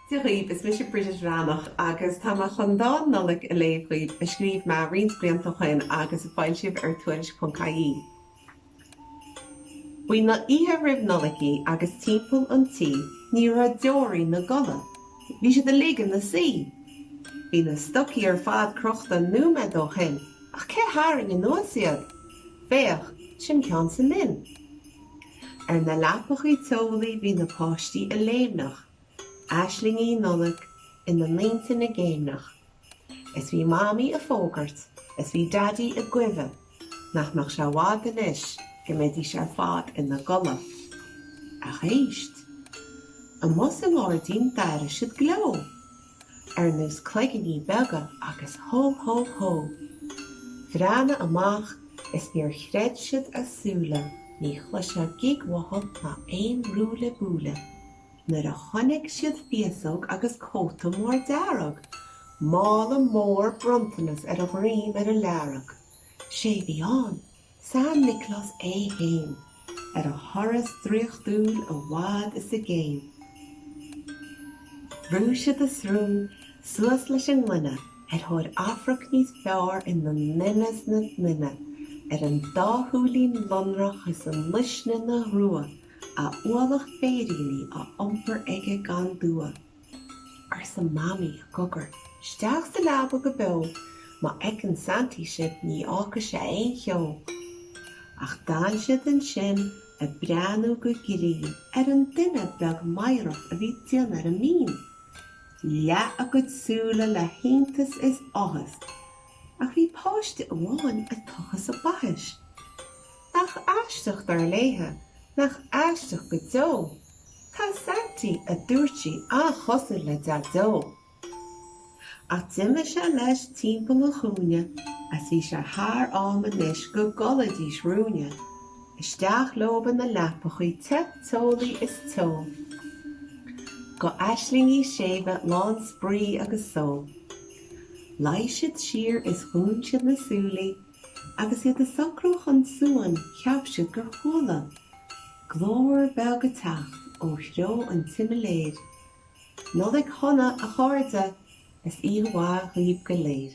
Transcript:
Dia dhaoib, is mise Bridget Bhreathnach agus tá mé chun dán Nollaig a léamh dhaoib a scríobh mé roinnt blianta ó shoin agus a foilsíodh ar tuairisc.ie. Ba í an oíche roimh Nollaig í agus timpeall an tí ní raibh deoraí ina gcodladh, bhí siad uilig ina suí. Bhí na stocaí ar fad crochta nóiméad ó shoin ach cé tharraing anuas iad? Féach, sin ceann sa linn. Ar na leapachaí teolaí bhí na páistí ag léimneach, aislingí Nollag ina n-intinn ag céimneach. Is bhí Mamaí ag fógairt is bhí Daidí ag guibhe nach mbeadh sé i bhfad anois go mbeidís ar fad ina gcodladh. Ach éist! Amuigh sa ngairdín d'airigh siad gleo. ar nós cloiginí beaga agus hó hó hó. Bhreathnaigh amach is níor chreid siad a súile, ní chloisfeá gíog uathub ná aon rúille búille. Nuair a chonaic siad féasóg agus cóta mór dearg, mála mór bronntanas ar a dhroim ar a learg, 'sé bhí ann, San Nioclás é fhéin, ar a thuras draíochtúil i bhfad is i gcéin. Bhrúigh siad a srón suas leis an ngloine ar thóir amharc níos fearr ina nduine 's ina nduine, ar an dá shúilín lonrach is an luisne 'na ghrua, a ualach féiríní á iompar aige gan dua. arsa Mamaí i gcogar isteach sa leaba go beo, má fheiceann Santaí sibh ní fhágfaidh sé aon cheo. Ach d'fhan siad ansin ag breathnú go grinn ar an duine beag meidhreach a bhí ag déanamh ar an mbinn. Leath a gcuid súile le hiontas is áthas. Ach bhí páiste amháin ag tochas a baithis. Nach aisteach, dar léithe, nach aisteach go deo, tá Santaí, a dúirt sí, an-chosúil le Deaideo. Ach d'imigh sé leis timpeall an chúinne is bhí sé thar am anois go gcodlaídís ruainne. Isteach leob ina leapachaí te teolaí is teo. Go aislingí séimhe lán spraoi agus só. Luigh siad siar is dhún siad na súilí. Agus iad ag socrú chun suain cheap siad gur chuala glór beag ag teacht ó threo an tsimiléir, Nollaig Shona, a chairde, is oíche mhaith dhaoibh go léir!